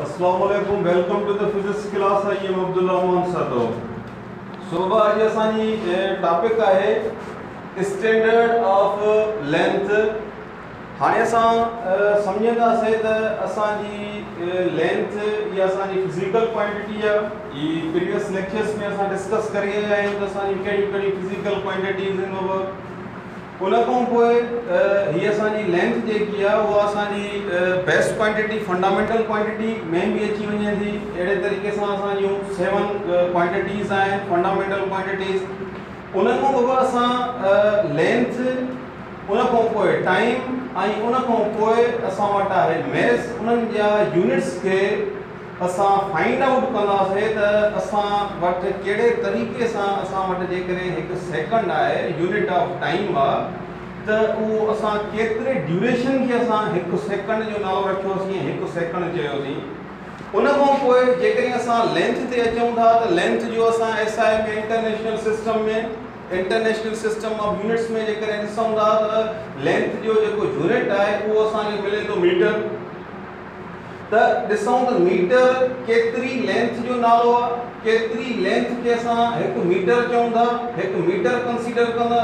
اسلام عليڪم welcome to the physics class I am Abdullah مون ساتو صبح اڄ اسان جي ٽاپڪ آهي اسٽينڊرڊ آف لينٿ هاڻي اسان سمجهنداسي ته اسان جي لينٿ يا اسان جي فزيڪل ڪوانٽيٽي آ هي پريويس ليڪچرز ۾ اسان ڊسڪس ڪري آيا آهيون ته اسان جي ڪهڙي ڪهڙي فزيڪل ڪوانٽيٽيز ان ان کان پوء هي اسان جي لينٿ جيڪي آهي اها اسان جي بيسٽ ڪوانٽٽي فنڊامينٽل ڪوانٽٽي ۾ به اچي وڃي ٿي اهڙي طريقي سان اسان جون سيون ڪوانٽٽيز آهن فنڊامينٽل ڪوانٽٽيز ان کان اڳ اسان لينٿ ان کان پوء ٽائيم ۽ ان کان پوء اسان وٽ آهي ميس انهن جا يونٽس کي اسان فائنڊ آئوٽ ڪنداسين ته اسان وٽ ڪهڙي طريقي سان اسان وٽ جيڪڏهن هڪ سيڪنڊ آهي يونٽ آف ٽائيم آ ته اهو اسان ڪيتري ڊيوريشن کي اسان هڪ سيڪنڊ جو نالو رکيوسين ۽ هڪ سيڪنڊ چيوسين ان کان پوء جيڪڏهن اسان لينٿ تي اچون ٿا ته لينٿ جو اسان S I ۾ international system ۾ international system of units ۾ جيڪڏهن ڏسون ٿا ته لينٿ جو جيڪو يونٽ آهي اهو اسان کي ملي ٿو ميٽر ته ڏسون ته ميٽر ڪيتري لينٿ جو نالو آ ڪيتري لينٿ کي اسان هڪ ميٽر چئون ٿا هڪ ميٽر ڪنسيڊر ڪندا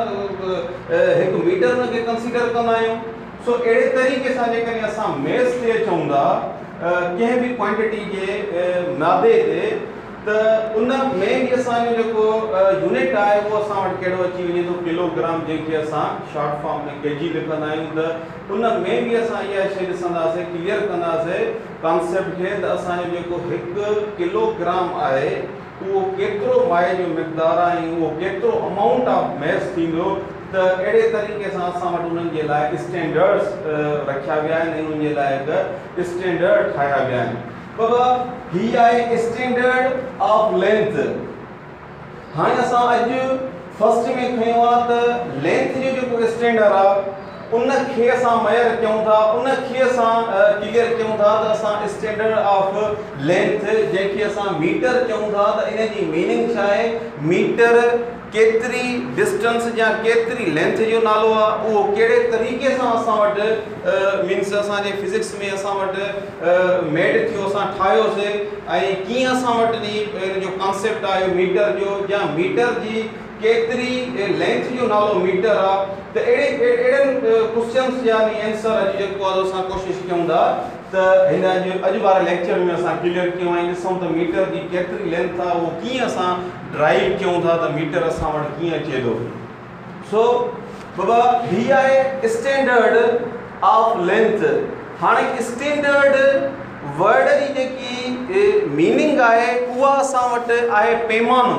هڪ ميٽر ان کي ڪنسيڊر ڪندا آهيون سو اهڙي طريقي سان جيڪڏهن اسان ميس تي اچون ٿا ڪنهن به ڪوانٽيٽي جي مادي تي ته ان ۾ به اسان جو جيڪو يونٽ آهي اهو اسان وٽ ڪهڙو اچي وڃي ٿو ڪلوگرام جنهن کي اسان شارٽ فارم ۾ ڪي جي لکندا آهيون ته ان ۾ به اسان اها ئي شيء ڏسنداسين، ڪليئر ڪنداسين ڪانسيپٽ کي ته اسان جو جيڪو هڪ ڪلو گرام آهي اهو ڪيترو مائع جو مقدار آهي ۽ اهو ڪيترو امائونٽ آف ميس ٿيندو ته اهڙي طريقي سان اسان وٽ انهن جي لاء اسٽينڊرڊز رکيا ويا آهن ۽ انهن جي لاء هڪ اسٽينڊرڊ ٺاهيا ويا آهن. بابا هي آهي اسٽينڊرڊ آف لينٿ. هاڻي اسان اڄ فرسٽ ۾ کنيو آ ته لينٿ جو جيڪو اسٽينڊر آ ان کي اسان ميئر ڪيون ٿا ان کي اسان ڪليئر ڪيون ٿا ته اسان اسٽينڊر آف لينٿ جنهن کي اسان ميٽر ڪيون ٿا ته ان جي ميننگ ڇا آهي ميٽر ڪيتري ڊسٽنس جا ڪيتري لينٿ جو نالو آ اهو ڪهڙي طريقي سان اسان وٽ مينس اسان جي فزڪس ۾ اسان وٽ ميڊ ٿيو اسان ٺاهيو سي ۽ ڪيئن اسان وٽ جي ان جو ڪانسيپٽ آيو ميٽر جو يا ميٽر جي ڪيتري لينٿ جو نالو ميٽر آ ته اهڙي اهڙن ڪوسچنس يا اينسر اڄ جيڪو آ اسان ڪوشش ڪيون ٿا ته هن اڄ اڄ واري ليڪچر ۾ اسان ڪليئر ڪيون ۽ ڏسون ته ميٽر جي ڪيتري لينٿ آ اهو ڪيئن اسان ڊرائيو ڪيون ٿا ته ميٽر اسان وٽ ڪيئن اچي ٿو. سو بابا هي آهي اسٽينڊرڊ آف لينٿ هاڻي اسٽينڊرڊ ورڊ جي جيڪي ميننگ آهي اها اسان وٽ آهي پيمانو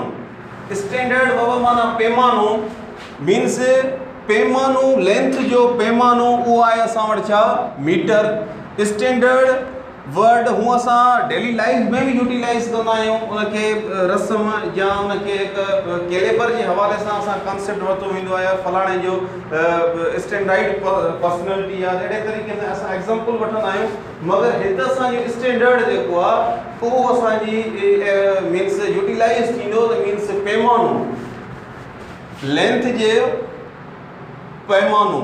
اسٽينڊرڊ بابا معنيٰ پيمانو مينس پيمانو لينٿ جو پيمانو اهو آهي اسان وٽ ڇا ميٽر اسٽينڊرڊ ورڊ هونء اسان ڊيلي لائيف ۾ به يوٽيلائيز ڪندا آهيون ان کي رسم يا ان کي هڪ ڪيليبر جي حوالي سان اسان ڪانسيپٽ ورتو ويندو آهي يا فلاڻي جو اسٽينڊائڊ پرسنالٽي آهي اهڙي طريقي سان اسان ايگزامپل وٺندا آهيون مگر هت اسانجو اسٽينڊرڊ جيڪو آهي اهو اسانجي مينس يوٽيلائيز ٿيندو ته مينس پيمانو لينٿ جي پيمانو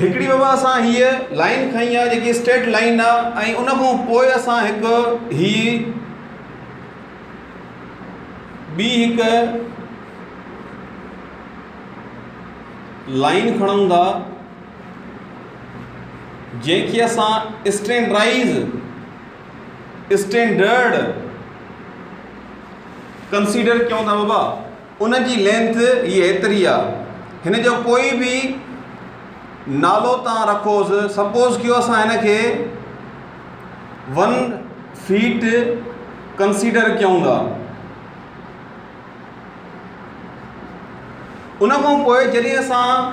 هڪڙي وبا اسان هيء لائين کڻي آ جيڪي اسٽيٽ لائين آ ۽ ان کان پوء اسان هڪ هي ٻي هڪ لائين کڻون ٿا جنهن کي اسان اسٽينڊرائز اسٽينڊرڊ ڪنسيڊر ڪيون ٿا وبا ان جي لينٿ هي ايتري آ. هن جو ڪوئي به نالو تان رکوس سپوز ڪيو اسان هن کي ون فيٽ ڪنسيڊر ڪيون ٿا. ان کان پوء جڏهن اسان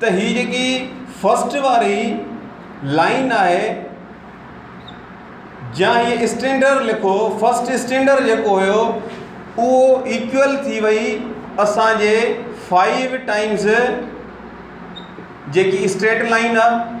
ته هي جيڪي فرسٽ واري لائين آهي جا هي اسٽينڊر لکو فرسٽ اسٽينڊر جيڪو هيو اهو ايڪول ٿي وئي اسانجي فائيو ٽائمز جيڪي اسٽريٽ لائين آهي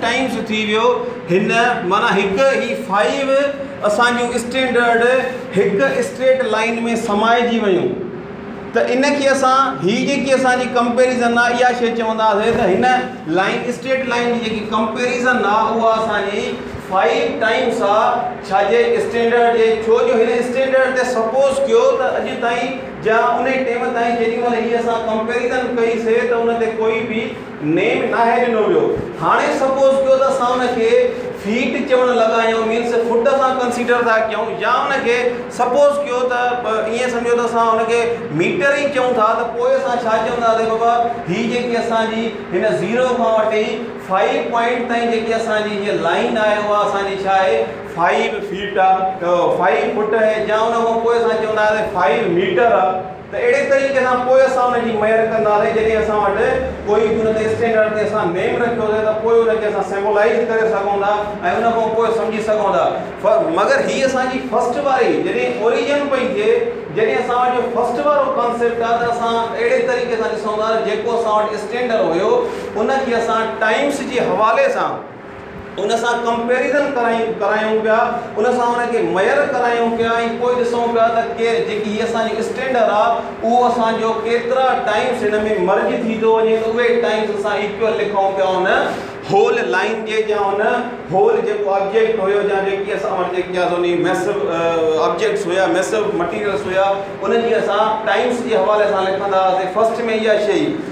ٽائيمز ٿي ويو هن معنيٰ هڪ هي فائيو اسان جون اسٽينڊرڊ هڪ اسٽريٽ لائين ۾ سمائجي ويون ته ان کي اسان هي جيڪي اسان جي ڪمپيريزن آ اها شي چونداسي ته هن لائين اسٽريٽ لائين جي جيڪي ڪمپيريزن آ اها اسان جي فائيو ٽائيمز آ ڇا جي اسٽينڊرڊ جي ڇو جو هن اسٽينڊرڊ تي سپوز ڪيو ته اڄ تائين جا انهي ٽيم تائين جيڏي مهل هي اسان ڪمپيريزن ڪئي سي ته ان تي ڪوئي به نيم ناهي ڏنو ويو. هاڻي سپوز ڪيو ته اسان ان کي فيٽ چوڻ لڳا آهيون مينس فٽ اسان ڪنسيڊر ٿا ڪيون يا ان کي سپوز ڪيو ته ائين سمجهو ته اسان ان کي ميٽر ئي چئون ٿا ته پوء اسان ڇا چونداسين بابا هي جيڪي اسان جي هن زيرو کان وٺي فائيو پوائنٽ تائين جيڪي اسان جي هيء لائين آهي اها اسان جي ڇا آهي فائيو فيٽ آهي فائيو فٽ آهي يا ان کان پوء اسان چونداسين فائيو ميٽر آهي. ته اهڙي طريقي سان پوء اسان ان جي مهر ڪنداسين جڏهن اسان وٽ ڪوئي به ان تي اسٽينڊرڊ تي اسان نيم رکيو اٿئي ته پوء ان کي اسان سيمبولائيز ڪري سگهون ٿا ۽ ان کان پوء سمجهي سگهون ٿا مگر هي اسان جي فرسٽ واري جڏهن اوريجن پئي ٿئي جڏهن اسان وٽ جو فرسٽ وارو ڪانسيپٽ آهي ته اسان اهڙي طريقي سان ڏسون ٿا ته جيڪو اسان وٽ اسٽينڊر هيو ان کي اسان ٽائمس جي حوالي سان ان سان ڪمپيريزن ڪرايون ڪرايون پيا ان سان ان کي ميئر ڪرايون پيا ۽ پوء ڏسون پيا ته ڪير جيڪي هي اسان جو اسٽينڊر آ اهو اسان جو ڪيترا ٽائمس هن ۾ مرج ٿي ٿو وڃي ته اهي ٽائمس اسان ايڪوئل لکون پيا ان هول لائين جي جا ان هول جيڪو آبجيڪٽ هيو جا جيڪي اسان وٽ جيڪي آ سوني ميسو آبجيڪٽس هيا ميسو مٽيريلس هيا ان جي اسان ٽائمس جي حوالي سان لکندا هئاسي فرسٽ ۾ اها شئي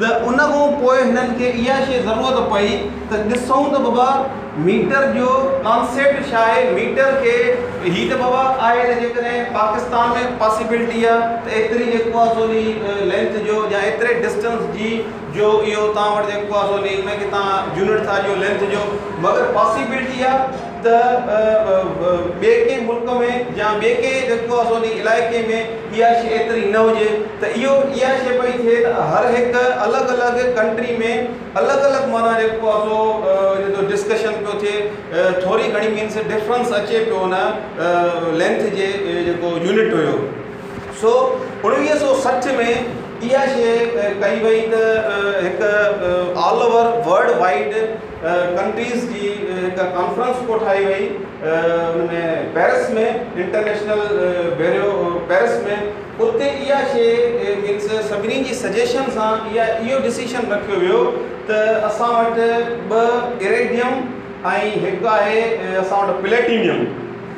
ته ان کان پوء هنن کي اها شيء ضرورت پئي ته ڏسون ته بابا ميٽر جو ڪانسيپٽ ڇا آهي، ميٽر کي هي ته بابا آهي ته جيڪڏهن پاڪستان ۾ پاسيبلٽي آهي ته ايتري جيڪو آهي سو انهي لينٿ جو يا ايتري ڊسٽنس جي جو اهو توهان وٽ جيڪو آهي سو انهي ان کي توهان يونٽ ٿا ڏيو لينٿ جو مگر پاسيبلٽي آهي ته ٻئي ڪنهن ملڪ ۾ يا ٻئي ڪنهن جيڪو آسو انهي علائقي ۾ اها شيء ايتري نه هجي ته اهو اها شيء پئي ٿئي ته هر هڪ الڳ الڳ ڪنٽري ۾ الڳ الڳ معنيٰ جيڪو آسو ان جو ڊسڪشن پيو ٿئي ٿوري گهڻي مينس ڊفرنس اچي پيو ان لينٿ جي جيڪو يونٽ هيو سو اڻويهه سو سٺ ۾ اها شيء ڪئي وئي ته هڪ all over world wide countries جي هڪ ڪانفرنس ڪوٺائي وئي ان ۾ پيرس ۾ انٽرنيشنل بيرو پيرس ۾ اتي اها شي مينس سڀني جي سجيشن سان اها اهو ڊسيشن رکيو ويو ته اسان وٽ ٻه ايريڊيم ۽ هڪ آهي اسان وٽ پليٽينيم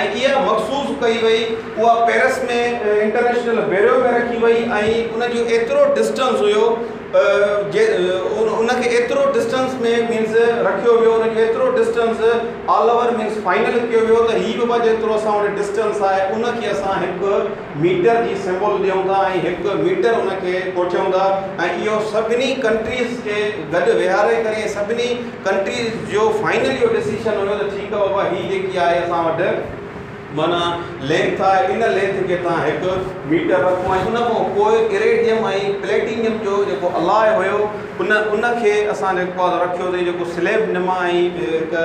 ۽ اها مخصوص ڪئي وئي اها پيرس ۾ انٽرنيشنل بيرو ۾ رکي وئي ۽ ان جو ايترو ڊسٽنس هيو جي ان کي ايترو ڊسٽنس ۾ مينس رکيو ويو ان کي ايترو distance all over means final ڪيو ويو ته هي به بابا جيترو اسان وٽ ڊسٽنس آهي ان کي اسان هڪ ميٽر جي سمبول ڏيون ٿا ۽ هڪ ميٽر ان کي ڪوٺيون ٿا ۽ اهو سڀني ڪنٽريز کي گڏ ويهاري ڪري ۽ سڀني ڪنٽريز جو فائنل اهو ڊسيشن هيو ته ٺيڪ آهي بابا هي جيڪي آهي اسان وٽ معنيٰ لينٿ آهي ان لينٿ کي توهان هڪ ميٽر رکو ۽ ان کان پوء ايريڊيم ۽ پليٽينيم جو جيڪو الاء هيو ان ان کي اسان جيڪو آهي سو رکيوسين جيڪو سليب نما ۽ هڪ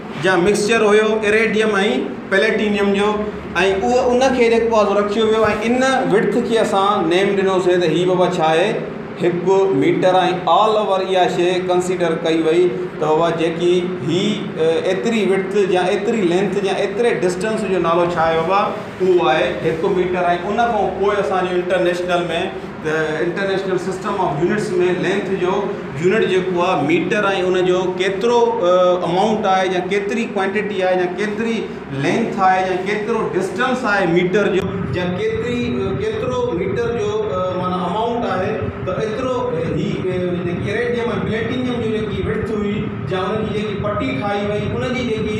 جا مڪسچر هيو ايريڊيم ۽ پليٽينيم جو ۽ اهو ان کي جيڪو آهي سو رکيو ويو ۽ ان وڊٿ کي اسان نيم ڏنوسي ته هي بابا ڇا آهي هڪ ميٽر ۽ آل اوور اها شي ڪنسيڊر ڪئي وئي ته بابا جيڪي هي ايتري وڊٿ جا ايتري لينٿ جا ايتري ڊسٽنس جو نالو ڇا آهي بابا اهو آهي هڪ ميٽر ۽ ان کان پوء اسانجو international ۾ international system of units ۾ length جو يونٽ جيڪو آ ميٽر ۽ ان جو ڪيترو امائونٽ آهي يا ڪيتري ڪوانٽيٽي آهي يا ڪيتري لينٿ آهي يا ڪيترو ڊسٽنس آهي ميٽر جو يا ڪيتري ڪيترو ميٽر جو معنيٰ امائونٽ آهي ته ايترو هي جيڪي ايريڊيم ۽ پليٽينيم جي جيڪي وڙٿ هئي يا ان جي جيڪي پٽي ٺاهي وئي ان جي جيڪي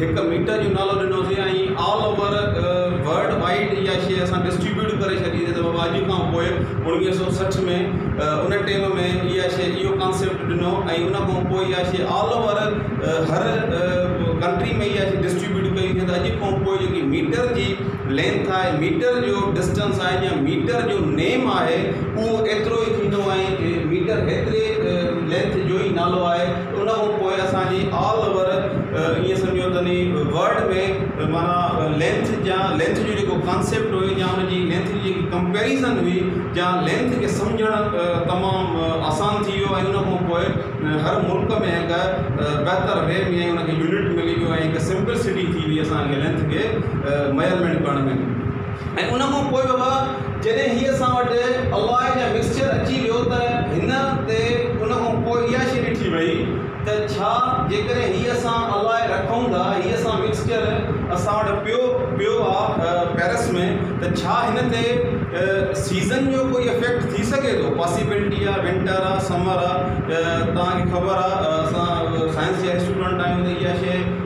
هڪ ميٽر جو نالو ڏنو سي ۽ آل اوور ورلڊ وائيڊ اها شيء اسان ڊسٽريبيوٽ ڪري ڇڏي سي ته بابا اڄ کان پوء اوڻويهه سؤ سٺ ۾ ان ٽيم ۾ اها شيء اهو ڪانسيپٽ ڏنو ۽ ان کان پوء اها شيء آل اوور هر ڪنٽري ۾ اها شيء ڊسٽريبيوٽ ڪئي وئي ته اڄ کان پوء جيڪي ميٽر جي لينٿ آهي ميٽر جو ڊسٽنس آهي يا ميٽر جو نيم آهي اهو ايترو ئي ٿيندو ۽ ميٽر ايتري لينٿ جو ئي نالو آهي ان کان پوء اسان جي آل اوور ائين سمجهيو ته ني ورلڊ ۾ معنيٰ لينٿ جا لينٿ جو جيڪو ڪانسيپٽ هو يا ان جي لينٿ جي جيڪي ڪمپيريزن هئي جا لينٿ کي سمجهڻ تمام آسان ٿي ويو ۽ ان کان پوء هر ملڪ ۾ هڪ بهتر وي ۾ ان کي يونٽ ملي ويو ۽ هڪ سمپل سٽي ٿي وئي اسان کي لينٿ کي ميئرمينٽ ڪرڻ ۾ ۽ ان کان پوء به جڏهن هيء اسان وٽ الله جا مڪسچر اچي ويو ته هن تي ان کان پوء اها شيء ڏٺي وئي ته ڇا جيڪڏهن هي اسان الله رکون ٿا هي اسان مڪسچر اسان وٽ پيو پيو آ پئرس ۾ ته ڇا هن تي سيزن جو ڪوئي افيڪٽ ٿي سگهي ٿو پاسيبلٽي آ ونٽر آ سمر آ توهان کي خبر آ اسان سائنس جا اسٽوڊنٽ آهيون ته اها شيء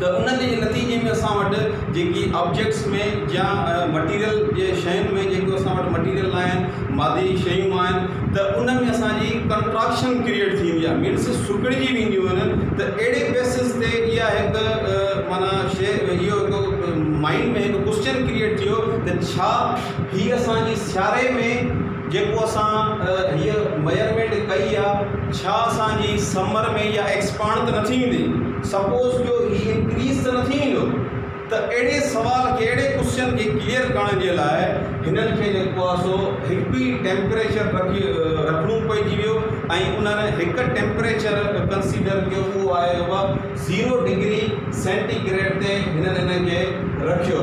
ته ان جي نتيجي ۾ اسان وٽ جيڪي آبجيڪٽس ۾ يا مٽيريل جي شين ۾ جيڪو اسان وٽ مٽيريل آهن مادي شيون آهن ته ان ۾ اسان جي ڪنٽراڪشن ڪريئيٽ ٿيندي آهي مينس سڪڙجي وينديون آهن ته اهڙي بيسز تي اها هڪ معنيٰ شيء اهو هڪ مائنڊ ۾ هڪ ڪوشچن ڪريئيٽ ٿيو ته ڇا هي اسان جي سياري ۾ جيڪو اسان هيء ميئرمينٽ ڪئي آ ڇا اسان جي سمر ۾ اها ايڪسپانڊ ته نٿي ويندي سپوز جو هي انڪريز ته نٿي ويندو ته اهڙي سوال کي اهڙي ڪوسچن کي ڪليئر ڪرڻ جي لاء هنن کي جيڪو آ سو هڪ ئي ٽيمپريچر رکي رکڻو پئجي ويو ۽ انهن هڪ ٽيمپريچر ڪنسيڊر ڪيو اهو آهي زيرو ڊگري سينٽي گريڊ تي هنن ان کي رکيو.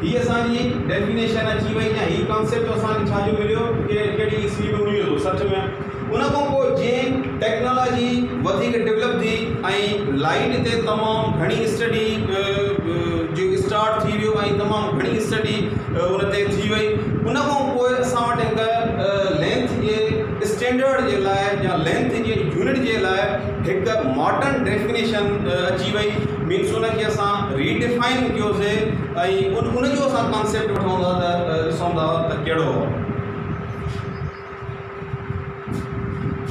هي اسان جي ڊيفينيشن اچي وئي يا هي ڪانسيپٽ اسان کي ڇا جو مليو ڪي ڪهڙي عيسوي ۾ مليو هو سچ ۾ ان کان پوء جئين ٽيڪنالاجي وڌيڪ ڊولپ ٿي ۽ لائيٽ تي تمام گهڻي اسٽڊي جو اسٽارٽ ٿي ويو ۽ تمام گهڻي اسٽڊي ان تي ٿي وئي ان کان پوء اسان وٽ هڪ لينٿ جي اسٽينڊرڊ جي لاء يا لينٿ جي يونٽ جي لاء هڪ ماڊرن ڊيفينيشن اچي وئي مينس ان کي اسان ري ڊفائن ڪيو سي ۽ ان جو اسان ڪانسيپٽ وٺون ٿا ته ڏسون ٿا ته ڪهڙو آهي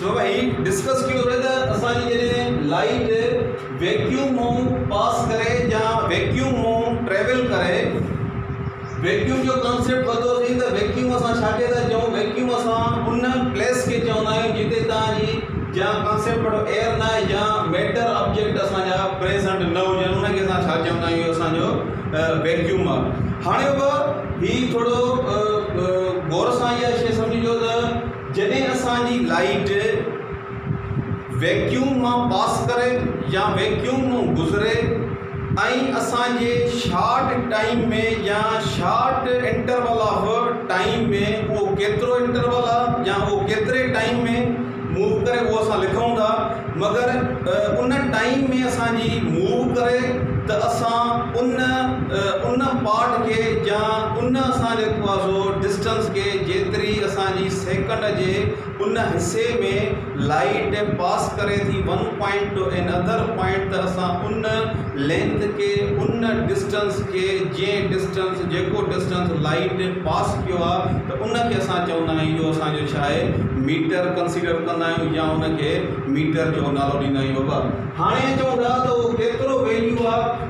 ڇو ڀاء هي ڊسڪس ڪيو سي ته اسان جي جڏهن لائٽ ويڪيوم مون پاس ڪري يا ويڪيوم مون ٽريول ڪري ويڪيوم جو ڪانسيپٽ وڌو ٿي ته ويڪيوم اسان ڇا کي ٿا چئون ويڪيوم اسان ان پليس کي چوندا آهيون جتي تان جي جا ڪانسيپٽ وٽ ايئر نه آهي جا ميٽر آبجيڪٽ اسان جا پريزنٽ نه هجن ان کي اسان ڇا چوندا آهيون اسان جو ويڪيوم آهي هاڻي به هي ٿورو غور سان اها شي سمجهجو ته جڏهن اسان جي لائٽ ويڪيوم مان پاس ڪري يا ويڪيوم مان گذري ۽ اسان جي شارٽ ٽائيم ۾ يا شارٽ انٽرول آف ٽائيم ۾ اهو ڪيترو انٽرول آهي يا اهو ڪيتري ٽائيم ۾ موو ڪري اهو اسان لکون ٿا مگر ان ٽائيم ۾ اسان جي موو ڪري ته اسان ان ان پارٽ کي يا ان اسان جي ڊسٽنس کي جيتري اسان جي سيڪنڊ جي ان حصي ۾ لائيٽ پاس ڪري ٿي one point to another point ته اسان ان لينٿ کي ان ڊسٽنس کي جنهن ڊسٽنس جيڪو ڊسٽنس لائيٽ پاس ڪيو آهي ته ان کي اسان چوندا آهيون اهو اسان جو ڇا آهي ميٽر ڪنسيڊر ڪندا آهيون يا ان کي ميٽر جو نالو ڏيندا آهيون بابا هاڻي چون ٿا ته اهو ڪيترو ويليو آهي.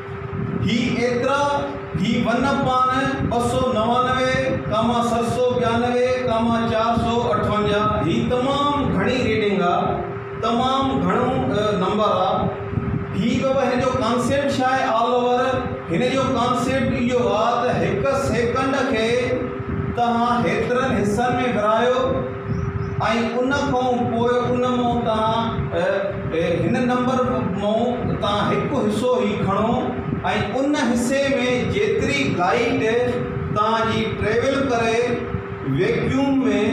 هي ايترا هي ون پاڻ ٻه سؤ نوانوي ڪاما ست سؤ ٻيانوي ڪاما چار سؤ اٺاونجاهه هي تمام گهڻي ريڊنگ آ تمام گهڻو نمبر آ هي بابا هن جو ڪانسيپٽ ڇا آهي آل اوور هن جو ڪانسيپٽ اهو آ ته هڪ سيڪنڊ کي توهان هيترن حصن ۾ ورهايو ۽ ان کئون پوء ان مئون تهان هن نمبر مئون تان هڪ حصو هي کڻو ۽ ان حصي ۾ جيتري گائيڊ تهان جي ٽريول ڪري ويڪيوم ۾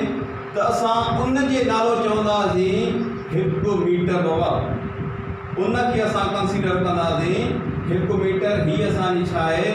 ته اسان ان جي نالو چوندا سين هڪ ميٽر بابا ان کي اسان ڪنسيڊر ڪندا سين هڪ ميٽر هي اسان جي ڇا آهي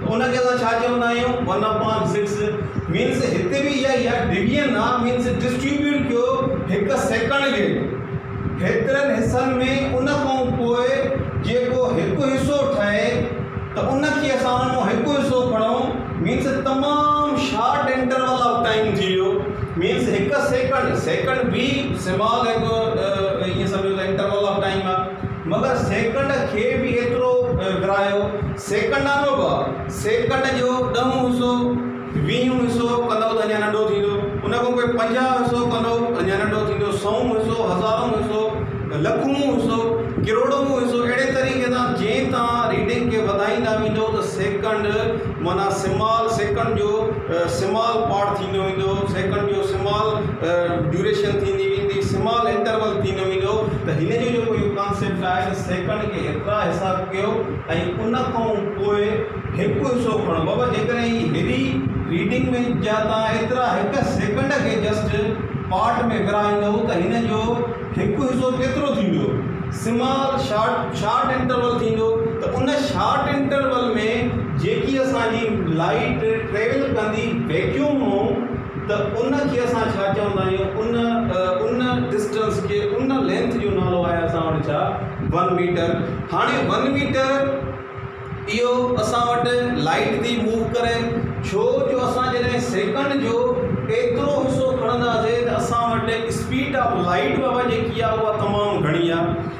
ته ان کي اسان ڇا چوندا آهيون ون اپان سڪس مينس هتي به اها ئي آهي ڊويزن آهي مينس ڊسٽريبيوٽ ڪيو هڪ سيڪنڊ کي ڪيترن حصن ۾ ان کان پوء جيڪو هڪ حصو ٺهي ته ان کي اسان ان مان هڪ حصو کڻون مينس تمام شارٽ انٽرول آف ٽائيم ٿي ويو مينس هڪ سيڪنڊ سيڪنڊ به سمال هڪ ائين سمجهو ته انٽرول آف ٽائيم آهي مگر سيڪنڊ کي به ايترو ورايو، سيڪنڊانو به سيڪنڊ جو ڏهون حصو، ويهون حصو ڪندؤ ته اڃا ننڍو ٿيندو، ان کان پوء پنجاهه حصو ڪندؤ اڃا ننڍو ٿيندو، سئون حصو، هزارون حصو، لکون حصو، ڪروڙون حصو اهڙي طريقي سان جئين توهان ريڊنگ کي وڌائيندا ويندؤ ته سيڪنڊ معنيٰ سمال سيڪنڊ جو سمال پارٽ ٿيندو ويندو، سيڪنڊ جو سمال ڊيوريشن ٿيندي ويندي سمال انٽرول ٿيندو ويندو ته هن جو جيڪو اهو ڪانسيپٽ آهي ته سيڪنڊ کي ايترا حساب ڪيو ۽ ان کان پوء هڪ حصو کڻو بابا جيڪڏهن هي هيوي ريڊنگ ۾ جا تان ايترا هڪ سيڪنڊ کي جسٽ پارٽ ۾ ورهائيندو ته هن جو هڪ حصو ڪيترو ٿيندو سمال شارٽ شارٽ انٽرول ٿيندو ته ان شارٽ انٽرول ۾ جيڪي اسان جي لائٽ ٽريول ڪندي ويڪيوم مون ته ان کي اسان ڇا چوندا آهيون ان ان ڊسٽنس کي ان لينٿ جو نالو آهي اسان وٽ ڇا ون ميٽر هاڻي ون ميٽر اهو اسان وٽ لائيٽ ٿي موو ڪري ڇو جو اسان جڏهن سيڪنڊ جو ايترو حصو کڻنداسين ته اسان وٽ اسپيڊ آف لائيٽ بابا جيڪي آهي اها تمام گهڻي آهي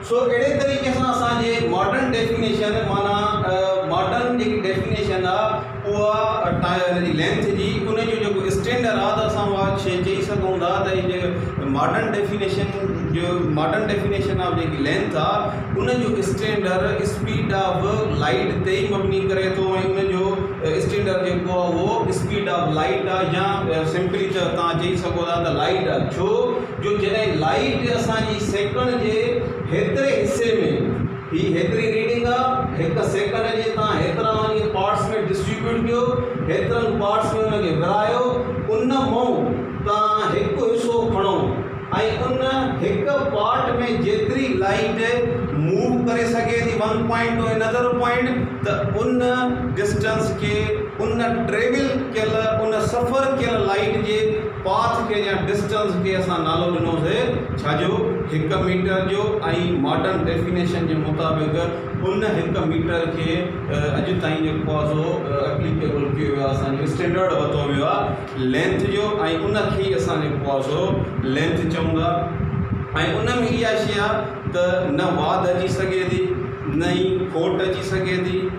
سو اهڙي طريقي سان اسان جي ماڊرن ڊيفينيشن معنيٰ ماڊرن جيڪي ڊيفينيشن آ اها ان جي لينٿ جي ان جو جيڪو اسٽينڊر آ ته اسان اها شيء چئي سگهون ٿا ته هي جيڪي ماڊرن ڊيفينيشن جو ماڊرن ڊيفينيشن آف جيڪي لينٿ آ ان جو اسٽينڊر اسپيڊ آف لائيٽ تي ئي مبني ڪري ٿو ۽ ان جو اسٽينڊر جيڪو آ اهو اسپيڊ آف لائيٽ آ يا سمپلي چيو تان چئي سگهو ٿا ته لائيٽ آ ڇو جو جڏهن لائيٽ اسان جي سيڪنڊ جي هيتري حصي ۾ هي هيتري ريڊنگ آ هڪ سيڪنڊ جي تان هيترا ان جي پارٽس ۾ ڊسٽريبيوٽ ڪيو هيترن پارٽس ۾ ان کي ورهايو ان مئو تان هڪ حصو کڻو ۽ ان هڪ پارٽ ۾ جيتري لائيٽ موو ڪري سگهي ٿي one point to another point ته ان ڊسٽنس کي ان ٽريول ڪيل ان سفر ڪيل لائيٽ جي پاٿ کي يا ڊسٽنس کي اسان نالو ڏنو سي ڇا جو هڪ ميٽر جو ۽ ماڊرن ڊيفينيشن جي مطابق ان هڪ ميٽر کي اڄ تائين جيڪو آ سو اپليڪيبل ڪيو ويو آ اسان جو اسٽينڊرڊ ورتو ويو آ لينٿ جو ۽ ان کي ئي اسان جيڪو آ سو لينٿ چئون ٿا ۽ ان ۾ اها شي آ ته نه واڌ اچي سگهي ٿي نه ئي کوٽ اچي سگهي ٿي.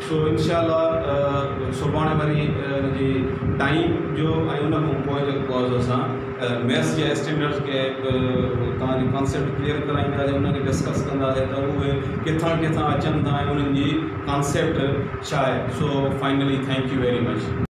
سو انشاء الله سڀاڻي وري ان جي ٽائيم جو ۽ ان کان پوء جي ڪورس اسان ميٿس جي اسٽينڊرڊس کي توهان جي ڪانسيپٽ ڪليئر ڪرائينداسين ان کي ڊسڪس ڪنداسين ته اهي ڪٿان ڪٿان اچن ٿا ۽ انهن جي ڪانسيپٽ ڇا آهي so finally thank you very much.